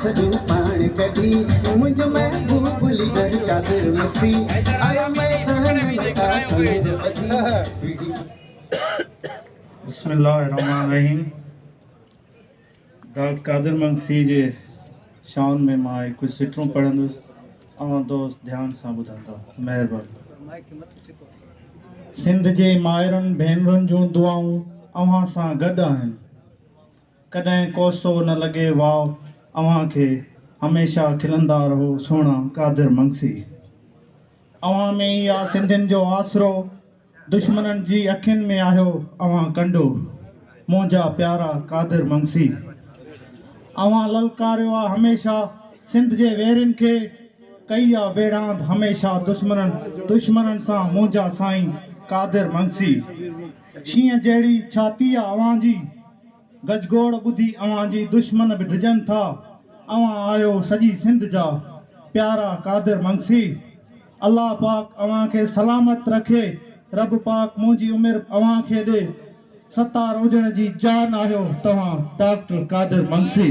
سڄڻ پاڻ ڪڍي منهنجو محبوب ليڊر قادر مکسي آيو ميدان ۾ آ سنگ ٻڌي بسم الله الرحمن الرحيم ڊاڪٽر قادر مگسي جي شان ۾ مان هي ڪجهه سٽرون پڙهندس اوهان دوست ڌيان سان ٻڌندا مهرباني سنڌ جي مائرن ڀينرن جون دعائون اوهان سان گڏ آهن ڪڏهن ڪوسو نه لڳي واء اوهان کي هميشه کلندا رهو سهڻا قادر منگسي اوهان ۾ ئي آ سنڌين جو آسرو دشمنن جي اکين ۾ آهيو اوهان ڪنڊو منهنجا پيارا قادر منگسي اوهان للڪاريو آ هميشه سنڌ جي ويرين کي ڪئي آ ويڙهاند هميشه دشمنن دشمنن سان منهنجا سائين قادر منگسي شينهن جهڙي ڇاتي آ اوهان جي گجگوڙ ٻڌي اوهان جي دشمن به ڊڄن ٿا اوهان آهيو سڄي سنڌ جا پيارا قادر منگسي الله پاڪ اوهان کي سلامت رکي رب پاڪ منهنجي عمر اوهان کي ڏي ستار هجڻ جي جان آهيو توهان ڊاڪٽر قادر منگسي.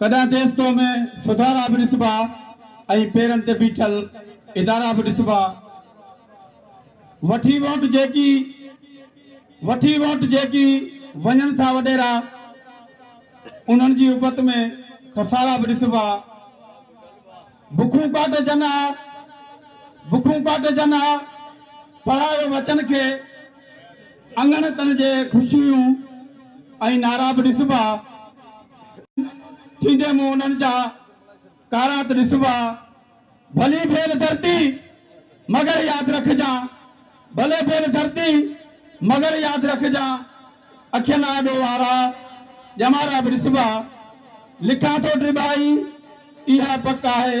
ڪڏهن ديستو ۾ سڌارا به ڏسبا ۽ پيرن تي بيٺل ادارا به ڏسبا. وٺي ووٽ جيڪي وٺي ووٽ جيڪي وڃن ٿا وڏيرا انهن جي ابت ۾ خسارا به ڏسبا. بکون ڪاٽجن ها بکون ڪاٽجن ها پڙهايو وچن کي اڱڻ تن جي خوشيون ۽ نعرا به ڏسبا. ٿيندي مون انهن جا ڪارات ڏسبا. ڀلي ڀيل ڌرتي مگر ياد رکجان. ڀلي ڀيل ڌرتي مگر ياد رکجان. اکين آڏو وارا ڄمارا به ڏسبا. لکان ٿو ٽٻائي اها پڪ آهي.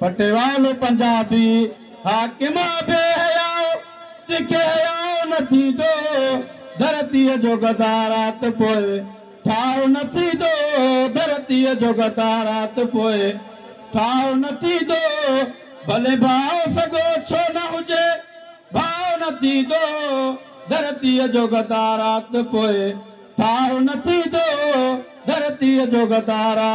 پٽيوالو پنجابي حاڪم آ بي حياء تکي حياء نه ٿيندو ڌرتي جو غدار آ ته پوء ٺاء نه ٿيندو ڌرتي جو غدار آ ته پوء ٺاء نه ٿيندو ڀلي ڀاء سڳو ڇو نه هجي ڀاء نه ٿيندو ڌرتي جو غدار آ ته پوء ٺاء نه ٿيندو ڌرتي جو غدار آ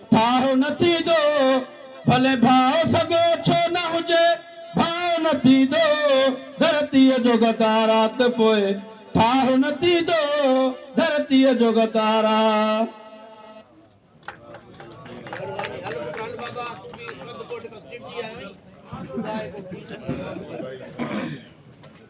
ڀائو نه ٿيندو ڀلي ڀاء سڳو ڇو نه هجي ڀائو نه ٿيندو ڌرتيء جو غدار آ ته پوء ٺاهه نه ٿيندو ڌرتيء جو غدار آ.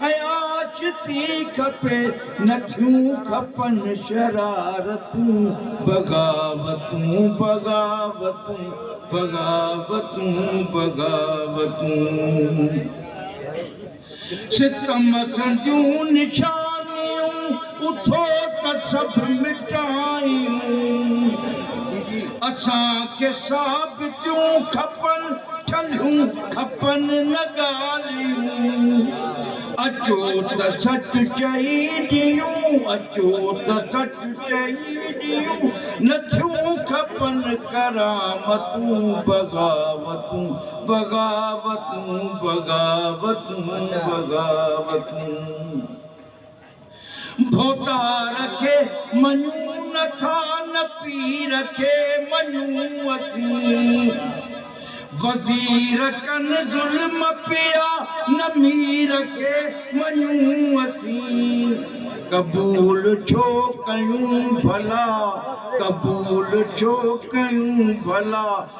آچتي کپي نٿيون کپن شرارتون بغاوتون بغاوتون بغاوتون بغاوتون ستم سنديون نشانيون اٿو ته سڀ مٽايون اسان کي ثابتيون کپن ٺلهيون کپن نه ڳالهيون، اچو ته سچ چئي ڏيون، اچو ته سچ چئي ڏيون، نه ٿيون کپن ڪرامتون، بغاوتون، بغاوتون، بغاوتون، بغاوتون. ڀوتار کي مڃون نه ٿا نه پير کي مڃون اسين وزير ڪن ظلم پيا نه مير کي مڃون اسين قبول ڇو ڪيون ڀلا قبول ڇو ڪيون ڀلا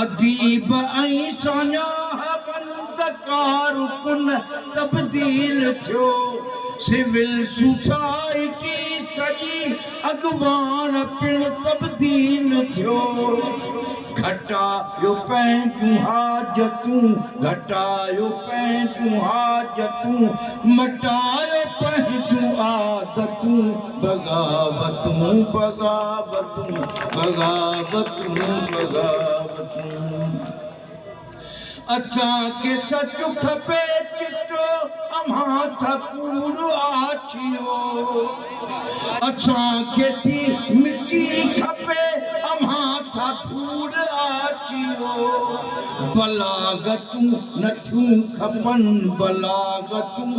اديب ۽ ساڃاهوند ڪارڪن تبديل ٿيو، سول سوسائٽي سڄي اڳواڻ پڻ تبديل ٿيو، گهٽايو پنهنجون حاجتون گهٽايو پنهنجون حاجتون، مٽايو پنهنجون عادتون بغاوتون بغاوتون بغاوتون. رون لڳا وٺون اسان کي سچ کپي چٽو اوهان ٿا ڪوڙ آڇيو اسان کي ٿي مٽي کپي اوهان ٿا ڌوڙ آڇيو بلاغتون نٿيون کپن بلاغتون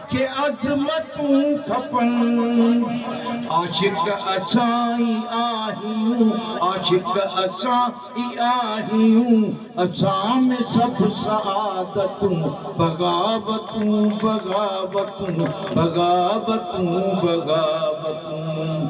کي عظمتون کپن، عاشق اسان ئي آهيون، عاشق اسان ئي آهيون، اسان ۾ سڀ سعادتون، بغاوتون بغاوتون، بغاوتون بغاوتون.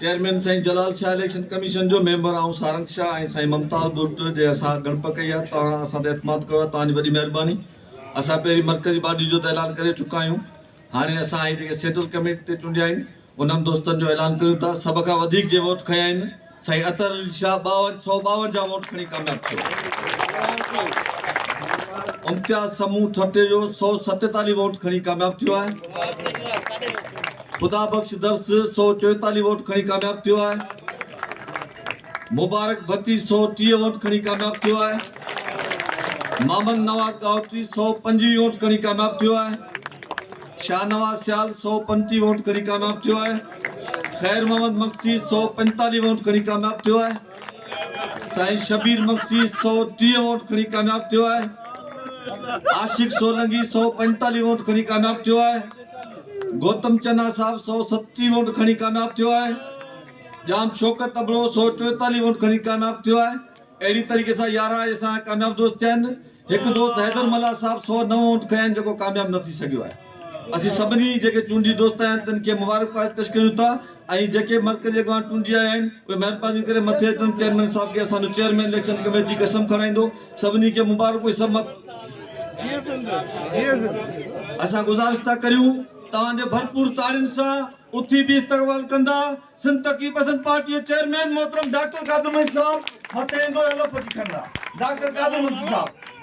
چيئرمين سائين جلال شاهه اليڪشن ڪميشن جو ميمبر آئون سارنگ شاهه ۽ سائين ممتاز بٽ جي اسان ڳڻپ ڪئي آهي توهان اسان تي اعتماد ڪيو آهي توهان جي وڏي مهرباني اسان پهرين مرڪزي باڊي جو ته اعلان ڪري چڪا آهيون هاڻي اسان هي جيڪي سيٽل ڪميٽي تي چونڊيا آهن انهن دوستن جو اعلان ڪريون ٿا سڀ کان وڌيڪ جي ووٽ کنيا آهن سائين اطهر علي شاهه ٻاون سؤ ٻاونجاهه ووٽ کڻي ڪامياب ٿيو امتياز سمون ٺٽي جو سؤ ستيتاليهه ووٽ کڻي ڪامياب ٿيو آهي خدا بخش درس سؤ چوئيتاليهه ووٽ کڻي ڪامياب ٿيو آهي، مبارڪ ڀٽي سؤ ٽيهه ووٽ کڻي ڪامياب ٿيو آهي، محمد نواز ڳاهوٽي سؤ پنجويهه ووٽ کڻي ڪامياب ٿيو آهي، شاهنواز سيال سؤ پنجٽيهه ووٽ کڻي ڪامياب ٿيو آهي، خير محمد مگسي سؤ پنجتاليهه ووٽ کڻي ڪامياب ٿيو آهي، سائين شبير مگسي سؤ ٽيهه ووٽ کڻي ڪامياب ٿيو آهي، عاشق سولنگي سؤ پنجتاليهه ووٽ کڻي ڪامياب ٿيو آهي. گوتم چنا صاحب سؤ ستٽيهه ووٽ کڻي ڪامياب ٿيو آهي ڄام شوڪت ابڙو سؤ چوئيتاليهه ووٽ کڻي ڪامياب ٿيو آهي اهڙي طريقي سان يارهن اسان ڪامياب دوست ٿيا آهن هڪ دوست حيدر ملا صاحب سؤ نو ووٽ کنيا آهن جيڪو ڪامياب نه ٿي سگهيو آهي اسين سڀني جيڪي چونڊي دوست آهيا آهن تن کي مبارڪباد پيش ڪريون ٿا ۽ جيڪي مرڪزي اڳواڻ چونڊجي آيا آهن اهي مهرباني ڪري مٿي اچن چيئرمين صاحب کي اسان جو چيئرمين اليڪشن ڪميٽي قسم کڻائيندو سڀني کي مبارڪون سڀ مت اسان گذارش ٿا ڪريون توهان جي ڀرپور تاڙين سان اٿي به استقبال ڪندا سنڌ ترقي پسند پارٽي جو چيئرمين محترم ڊاڪٽر قادر منشي صاحب مٿي ايندو ۽ لفظ کڻندا ڊاڪٽر قادر منشي صاحب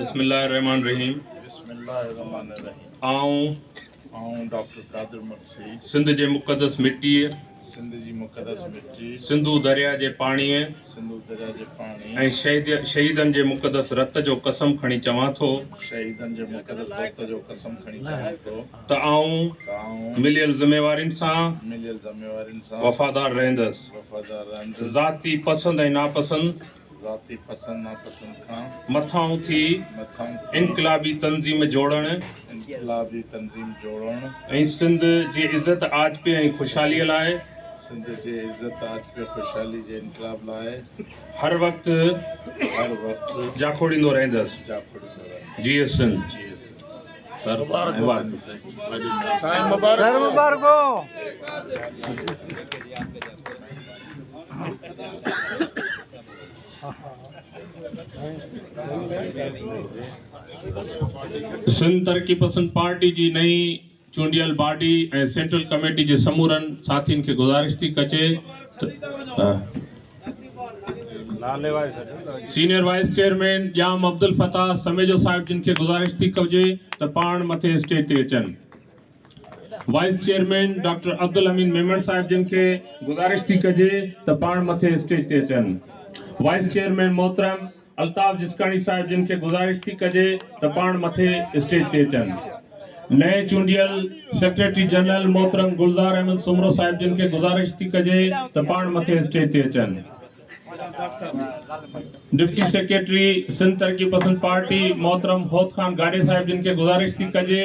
بسم الله الرحمن الرحيم آئون سنڌ جي مقدس مٽي سنڌو دريا جي پاڻي ۽ شهيدن جي مقدس رت جو قسم کڻي چوان ٿو ته آئون مليل ذميوارين سان وفادار رهندس، ذاتي پسند ۽ ناپسند کان مٿان اٿي انقلابي تنظيم جوڙڻ ۽ سنڌ جي عزت آجپي ۽ خوشحالي لاء هر وقت جاکوڙيندو رهندس. جي سنڌ. سر مبارڪ هو سنڌ ترقي پسند پارٽي جي نئين چونڊيل باڊي ۽ سينٽرل ڪميٽي جي سمورن ساٿين کي گذارش ٿي ڪجي ته senior vice chairman Jam Abdulfattah Samejo صاحب جن کي گذارش ٿي ڪجي ته پاڻ مٿي اسٽيج تي اچن vice chairman doctor Abdulhameed Memon صاحب جن کي گذارش ٿي ڪجي ته پاڻ مٿي اسٽيج تي اچن وائيس چيئرمين محترم الطاف جسڪاڻي صاحب جن کي گذارش ٿي ڪجي ته پاڻ مٿي اسٽيج تي اچن. نئين چونڊيل سيڪريٽري جنرل محترم گلزار احمد سومرو صاحب جن کي گذارش ٿي ڪجي ته پاڻ مٿي اسٽيج تي اچن. ڊپٽي سيڪريٽري سنڌ ترقي پسند پارٽي محترم هوت خان گاڏهي صاحب جن کي گذارش ٿي ڪجي.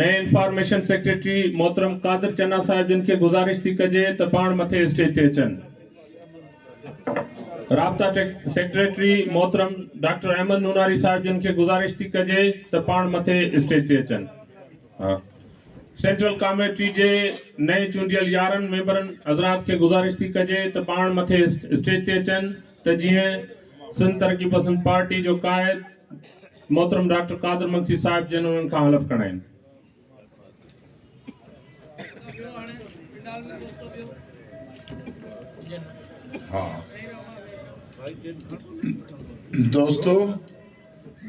نئين انفارميشن سيڪريٽري محترم قادر چنا صاحب جن کي گذارش ٿي ڪجي ته پاڻ مٿي اسٽيج تي اچن. رابطا سيڪريٽري محترم ڊاڪٽر احمد نوناري صاحب جن کي گذارش ٿي ڪجي ته پاڻ مٿي اسٽيج تي اچن. سينٽرل ڪاميٽي جي نئين چونڊيل يارهن ميمبرن حضرات کي گذارش ٿي ڪجي ته پاڻ مٿي اسٽيج تي اچن ته جيئن سنڌ ترقي پسند پارٽي جو قائد محترم ڊاڪٽر قادر مگسي صاحب جن انهن کان حلف کڻائين. دوستو!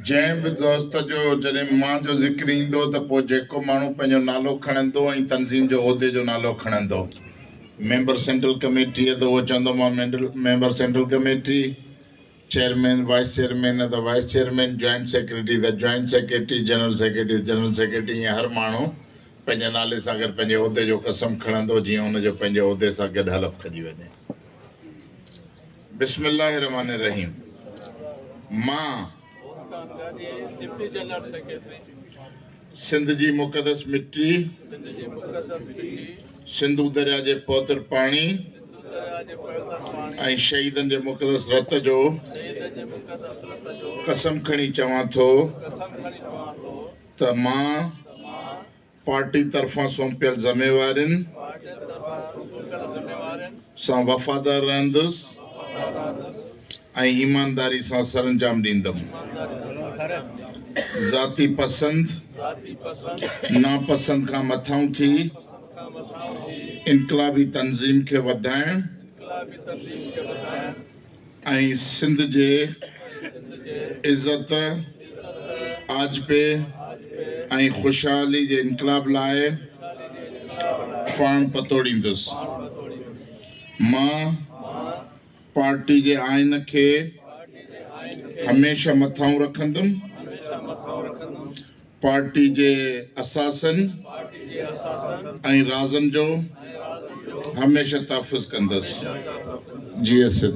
جنهن به دوست جو جڏهن مان جو ذڪر ايندو ته پوء جيڪو ماڻهو پنهنجو نالو کڻندو ۽ تنظيم جو عهدي جو نالو کڻندو ميمبر سينٽرل ڪميٽيء ته اهو چوندو مان member central committee chairman, vice chairman نه ته وائيس چيئرمين، جوائنٽ سيڪريٽري ته جوائنٽ سيڪريٽري، جنرل سيڪريٽري ته جنرل سيڪريٽري ائين هر ماڻهو پنهنجي نالي سان گڏ پنهنجي عهدي جو قسم کڻندو جيئن ان جو پنهنجي عهدي سان گڏ حلف کڄي وڃي. بسم الله الرحمٰن الرحيم مان. سنڌ جي مقدس مٽي، سنڌو درياء جي پوتر پاڻي ۽ شهيدن جي مقدس رت جو قسم کڻي چوان ٿو ته مان پارٽي طرفان سونپيل ذميوارين سان وفادار رهندس ۽ ايمانداري سان سرانجام ڏيندم. ذاتي پسند، ناپسند کان مٿانهون ٿي انقلابي تنظيم کي وڌائڻ ۽ سنڌ جي عزت، آجپي ۽ خوشحالي جي انقلاب لاء پاڻ پتوڙيندس. مان. پارٽي جي آئين کي هميشه مٿانهون رکندم، پارٽي جي اثاثن ۽ رازن جو هميشه تحفظ ڪندس. جيئي سنڌ.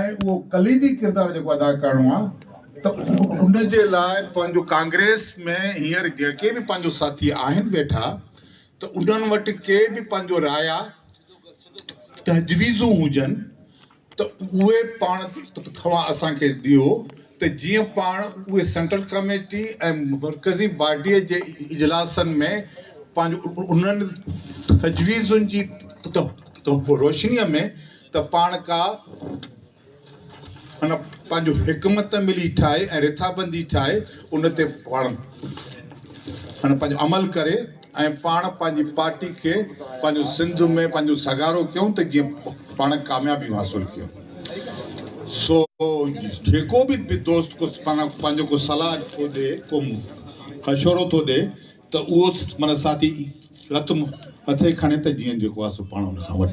۽ اهو ڪليدي ڪردار جيڪو ادا ڪرڻو آهي ته ان جي لاء پنهنجو ڪانگريس ۾ هينئر جيڪي به پنهنجو ساٿي آهن ويٺا ته انهن وٽ ڪي به پنهنجو رايا تجويزون هجن ته اهي پاڻ توهان اسان کي ڏيو ته جيئن پاڻ اهي سينٽرل ڪميٽي ۽ مرڪزي باڊيء جي اجلاسن ۾ پنهنجو انهن تجويزن جي روشنيء ۾ ته پاڻ ڪا ان پنهنجو حڪمت عملي ٺاهي ۽ رٿابندي ٺاهي ان تي پاڻ ان پنهنجو عمل ڪري ۽ پاڻ پنهنجي پارٽي کي پنهنجو سنڌ ۾ پنهنجو سگهارو ڪيون ته جيئن پاڻ ڪاميابيون حاصل ڪيون سو جيڪو به دوست ڪو پنهنجو ڪو صلاح ٿو ڏي ڪو مشورو ٿو ڏي ته اهو معنيٰ ساٿي رت مٿي کڻي ته جيئن جيڪو آهي سو پاڻ ان کان وٺ.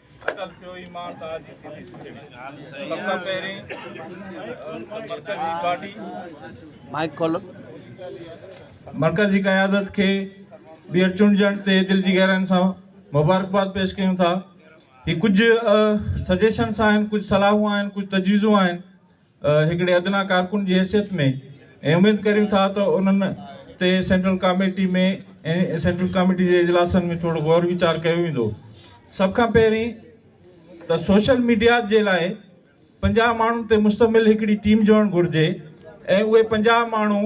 اٽل پيو ايمان ته آجي ٿيندي سڄڻي سڀ کان پهرين مرڪزي پارٽي مائيڪ کولو مرڪزي قيادت کي ٻيهر چونڊجڻ تي دل جي گهرائين سان مبارڪباد پيش ڪيون ٿا هي ڪجهه سجيشنس آهن ڪجهه صلاحون آهن ڪجهه تجويزون آهن هڪڙي ادنيٰ ڪارڪن جي حيثيت ۾ اميد ڪريون ٿا ته انهن تي سينٽرل ڪاميٽي ۾ ۽ سينٽرل ڪاميٽي جي اجلاسن ۾ ٿورو غور ويچار ڪيو ويندو. سڀ کان پهرين ته سوشل ميڊيا جي لاء پنجاهه ماڻهن تي مشتمل هڪڙي ٽيم جوڙڻ گهرجي ۽ اهي پنجاهه ماڻهو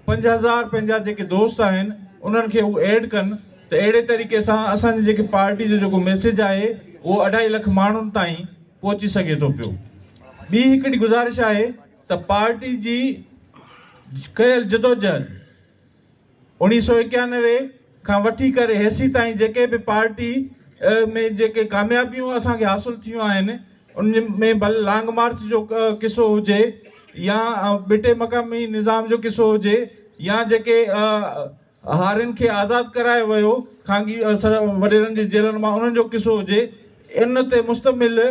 پنج هزار پنهنجا جيڪي دوست آهن انهن کي هو ايڊ ڪن ته اهڙي طريقي سان اسان جي جيڪي پارٽي جو جيڪو ميسيج آهي اهو اڍائي لک ماڻهن تائين پهچي سگهي ٿو پيو. ٻي هڪڙي گذارش آهي ته پارٽي جي ڪيل جدوجهد اوڻيهه سؤ ايڪيانوي کان وٺي ڪري هيسي تائين جيڪي به پارٽي ۾ جيڪي ڪاميابيون اسان کي حاصل ٿيون آهن ان ۾ ڀل لانگ مارچ جو قصو هجي يا ٻٽي مقامي نظام جو قصو هجي يا جيڪي هارين کي آزاد ڪرايو ويو، خانگي وڏيرن جي جيلن مان انهن جو قصو هجي، ان تي مشتمل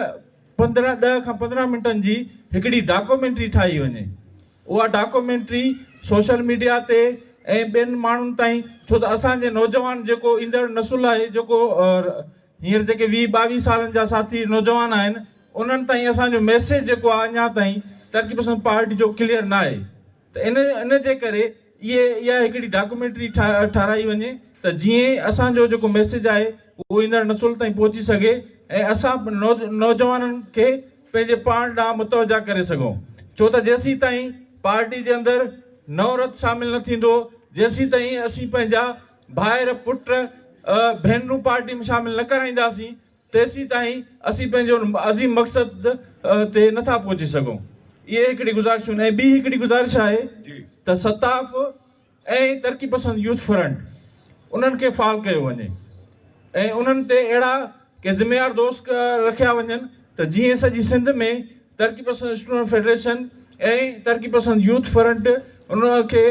پندرهن ڏهه کان پندرهن منٽن جي هڪڙي ڊاڪومينٽري ٺاهي وڃي. اها ڊاڪومينٽري سوشل ميڊيا تي ۽ ٻين ماڻهن تائين ڇو ته اسان جي نوجوان جيڪو ايندڙ نسل آهي جيڪو هينئر جيڪي ويهه ٻاويهه سالن جا ساٿي نوجوان آهن انهن تائين اسان جو ميسيج جيڪو آهي اڃا تائين ترقي پسند پارٽي جو ڪليئر ناهي. ته ان ان جي ڪري اهي اها هڪڙي ڊاڪومينٽري ٺاهرائي وڃي ته جيئن اسان جو جيڪو ميسيج آهي اهو ايندڙ نسل تائين پهچي سگهي ۽ اسان نوجوانن کي پنهنجي پاڻ ڏانهن متوجهه ڪري سگهون ڇو ته جيسين تائين پارٽي جي اندر نئون رت شامل نه ٿيندو جيسين تائين اسين پنهنجا ڀائر پٽ ڀينرون پارٽي ۾ شامل نه ڪرائينداسين تيسيتائين اسين پنهنجي ان عظيم مقصد تي نٿا پهچي سگهون. اهي هڪڙي گذارشون ۽ ٻي هڪڙي گذارش آهي ته ستاف ۽ ترقي پسند يوٿ فرنٽ انهن کي فعال ڪيو وڃي ۽ انهن تي اهڙا ڪي ذميوار دوسڪ رکيا وڃن ته جيئن سڄي سنڌ ۾ ترقي پسند اسٽوڊنٽ فيڊريشن ۽ ترقي پسند يوٿ فرنٽ ان کي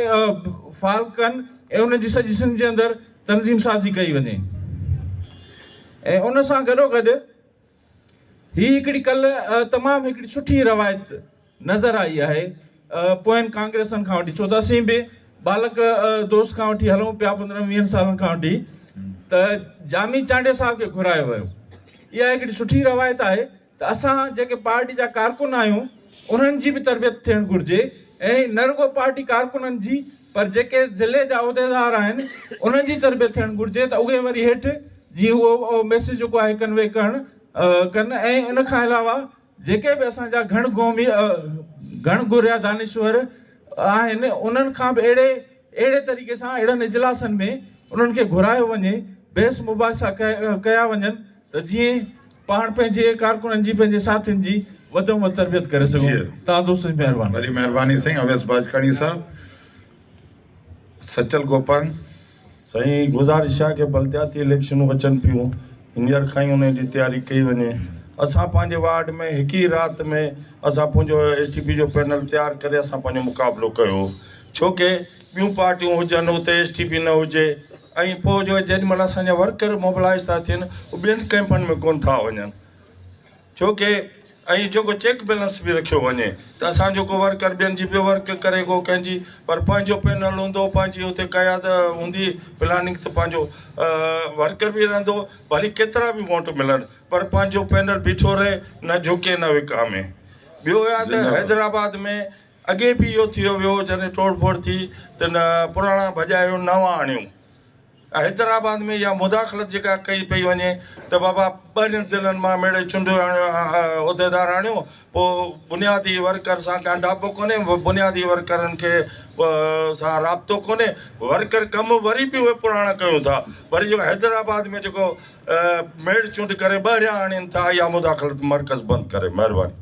فعال ڪن ۽ ان جي سڄي سنڌ جي اندر تنظيم سازي ڪئي وڃي ۽ ان سان گڏو گڏ هي هڪڙي ڪل تمام هڪڙي سٺي روايت نظر آئي آهي پوين ڪانگريسن کان وٺي ڇو ته اسين به ٻالڪ دوست کان وٺي هلون پيا پندرهن ويهن سالن کان وٺي ته جامي چانڊيو صاحب کي گهرايو ويو اها هڪڙي سٺي روايت آهي ته اسان جيڪي پارٽي جا ڪارڪن آهيون انهن جي به تربيت ٿيڻ گهرجي ۽ نه رڳو پارٽي ڪارڪنن جي پر جيڪي ضلعي جا عهديدار آهن انهن جي تربيت ٿيڻ گهرجي ته اهي وري هيٺ جي اهو ميسيج جيڪو آهي ڪنوي ڪرڻ ڪن ۽ ان کان علاوه جيڪي به اسان جا گهڻ گهومي گهڻ گهريا دانشور آهن انهن کان به اهڙي اهڙي طريقي سان اهڙن اجلاسن ۾ انهن کي گهرايو وڃي بحث مباحثا ڪيا وڃن ته جيئن پاڻ پنهنجي ڪارڪنن جي پنهنجي ساٿين جي وڌ ۾ وڌ تربيت ڪري سگهون ٿا دوستو جي مهرباني. وڏي مهرباني سائين اويس باجڪاڻي صاحب سچل گوپانگ. سائين گذارش آ ڪي بلدياتي اليڪشنون اچن پيون هينئر کان ئي انهن جي تياري ڪئي وڃي اسان پنهنجي وارڊ ۾ هڪ ئي رات ۾ اسان پنهنجو ايس ٽي پي جو پينل تيار ڪري اسان پنهنجو مقابلو ڪيو ڇو ڪي ٻيون پارٽيون هجن اتي ايس ٽي پي نه هجي ۽ پوء جو جيڏي مھل اسان جا ورڪر موبلائيز ٿا ٿين اھي ٻين ڪئمپن ۾ ڪون ٿا وڃن ڇو ڪي ۽ جيڪو چيڪ بيلنس به رکيو وڃي ته اسان جو ڪو ورڪر ٻين جي به ورڪ ڪري ڪو ڪنھن جي پر پنھنجو پينل ھوندو پنھنجي اتي قياد ھوندي پلاننگ ته پنھنجو ورڪر به رھندو ڀلي ڪيترا به ووٽ ملن پر پنھنجو پينل بيٺو رھي نه جھڪي نه وڪامي ٻيو آھي ته حيدرآباد ۾ اڳي به اهو ٿيو ويو هو جڏهن ٽوڙ ڦوڙ ٿي ته نه پراڻا ڀڄايو نوان آڻيو ۽ حيدرآباد ۾ اها مداخلت جيڪا ڪئي پئي وڃي ته بابا ٻاهرين ضلعن مان ميڙي چونڊيو آڻيو عهديدار آڻيو پوء بنيادي ورڪر سان ڳانڍاپو ڪونهي بنيادي ورڪرن کي سان رابطو ڪونهي ورڪر ڪم وري به اهي پراڻا ڪيون ٿا وري جيڪو حيدرآباد ۾ جيڪو ميڙ چونڊ ڪري ٻاهريان آڻين ٿا اها مداخلت مرڪز بند ڪري مهرباني